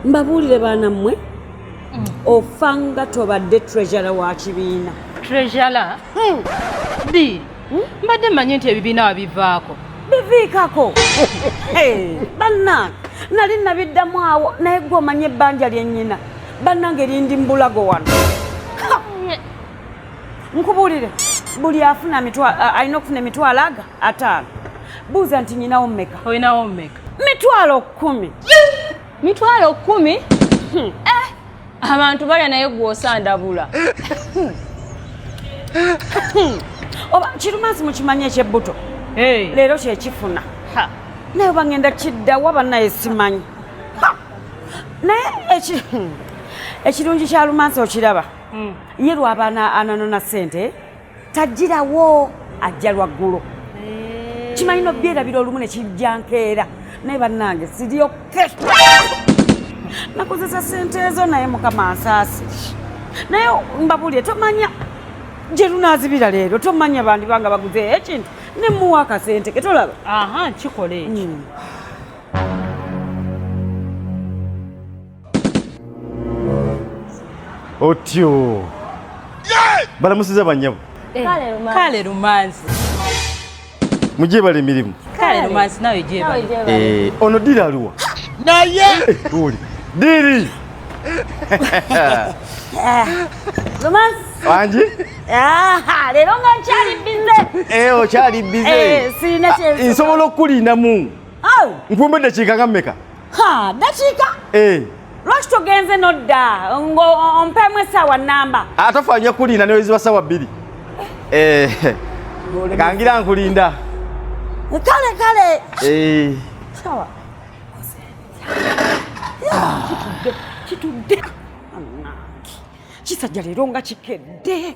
mbabuulire baana mmwe mm. ofanga tobadde treasure wa kibiina treasure hmm. di hmm? mbadde mmanyi nti ebibiina wabivaako biviikako bannange nali nabiddamu awo naye gwe omanye ebbanja lyennyina bannange lindi mbulago wano nkubuulire buli afuna alina okufuna emitwalo aga ataano buuza nti nyinawo mmeka olinawo mmeka mitwalo kkumi mitwalo kkumi hmm. eh, abantu balya naye gwosandabula hmm. hmm. oba kirumansi mukimanya ekyebbuto leero kyekifuna naye oba ngenda kiddawa banaye simanyi naye ekirungi kya lumansi okiraba mm. ye lwaba ananona sente tajirawo ajja lwaggulo eh. kimanyi nobyerabira olumu nekijja nkeera naye bannange siryoke nakozesa sente ezo naye mukama nsaasi naye mbabulire tomanya gyerunazibira leero tomanya bandi banga baguze ekintu nemuwa akasente ketolaba aha kikola ekyo mm. otyo balamusiza banyabo eh, kale lumanzi mugyebala emirimu kale lumanzi nawe gyebala eh, ono diri aliwa naye tuli diri lumanzi wangi leero nga nkyali bize eh, okyali bize nsobola okukulinamu oh. nkumbedde kiikanga mmeka ha dakiika eh. lwaki togenze nodda ng'ompemu essaawa nnamba atafa nyo kulinda neweziba ssaawa bbiri eh. Eh. kangira nkulinda kale kale sawa kitudde kitudde kisajja leero nga kikedde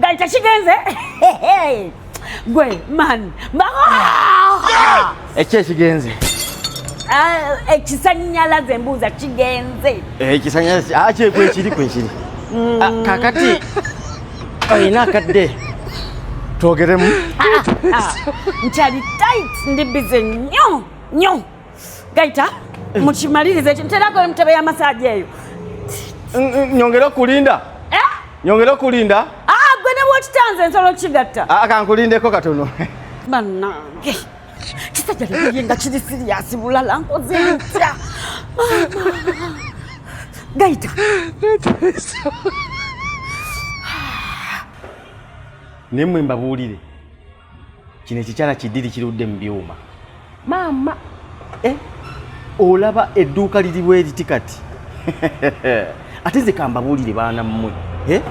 Gali tekigenze gwe man ekyo ekigenze ah, ekisanyalaze embuuza kigenze eh, ekisanyalaze ah, kyekwekiri kwekiri mm. ah, kakati olina akadde twogeremu nkyali tit ndi bize nyo nyo Gaita eh. mukimaliriza ekintu terako emutebe ya masaji eyo nyongere okulinda eh? nyongere okulinda ah, gwe ne wokitanze nsobola okukigatta ah, kankulindeko katono banange kisajja leye nga kiri siriyasi bulala nkoze ntya gaita naye mwe mbabuulire kino ekikyala kiddiri kirudde mu byuma maama eh? olaba edduuka liri bwe liti kati ate nze kambabuulire baana mmwe eh?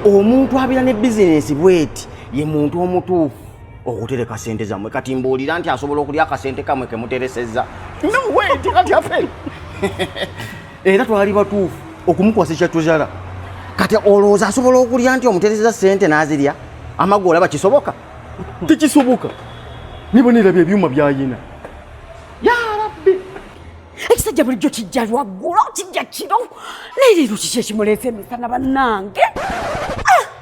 omuntu abeera ne bizinensi bweti ye muntu omutuufu okutereka sente zammwe kati mbuulira nti asobola okulya akasente kamwe kemuteresezza no way tikati aferi era twali batuufu okumukwasa ekyatuzala kati olowooza asobola okulya nti omutereza sente n'azirya amagu olaba kisoboka tekisoboka nibo nerabya ebyuma byayina yarabbi ekisajja bulijjo kijja lwaggulo kijja kiro naye leero kiki ekimuleese emisana bannange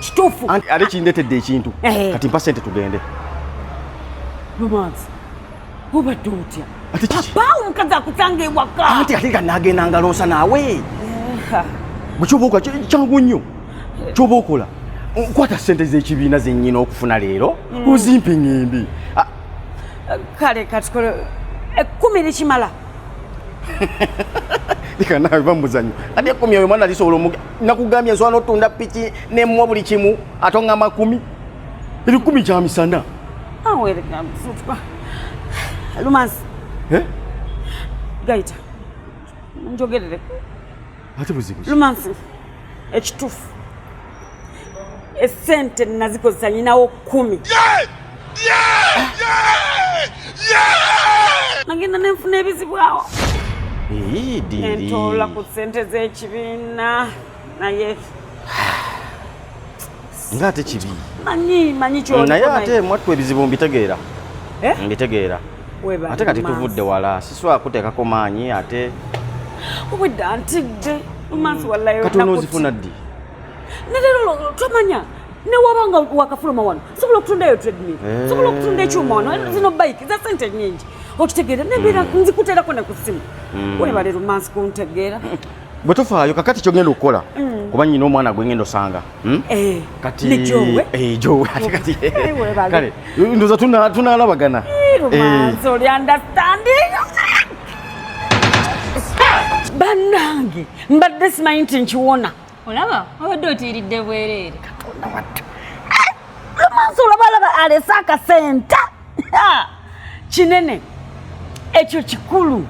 kituufu ate kindetedde ekintu eh. kati mpa sente tugende obadde otya papa omukazi akutanga ewaka anti ate nga nagenda ngalonsa naawe eh. bwekyobaokola kyangu nnyo kyoba okola nkwata sente zekibiina zenyina okufuna leero mm. ozimpe ngembi ah. kale katukole ekkumi eh, likimala leka nawe bamuzanyo ate ekkumi oyo mwana lisobola omuga nakugambye nsobola notunda piki nemuwa buli kimu atonga makumi ebikumi kya misana lumansi eh? gaita njogerere ate buzibu lumansi ekitufu esente nazikozesa nyinawo kumi yeah! nagenda nenfuna ebizibu awo nentoola ku sente z'ekibiina naye nga ate kibi manyi manyi naye ate mwattu ebizibu mbitegeera eh? mbitegeera ate kati tuvudde wala siswa kuteekako maanyi ate obwedda ntidde mumansi mm. wallayo kati onoozifuna ddi nerero tomanya newaba nga wakafuluma wano sobola okutundayo tredmil eh. sobola okutunda ekyuma wano zino bike za sente nyingi okitegeera nebeera hmm. nzikuterako ne ku simu hmm. webale rumansi kuntegeera bwe tufaayo kakati kyogenda okukola hmm. kuba nyina omwana gwe ngenda osanga eh, katijowe eh, ndoza tunalabagana banange mbadde simanyi nti nkiwona olaba obadde otiiridde bwereere lomaaso olabalaba alese akasenta kinene ekyo kikulu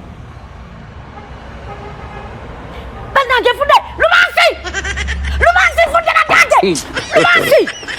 banange fudde lumansi lumansi fudde batange lumansi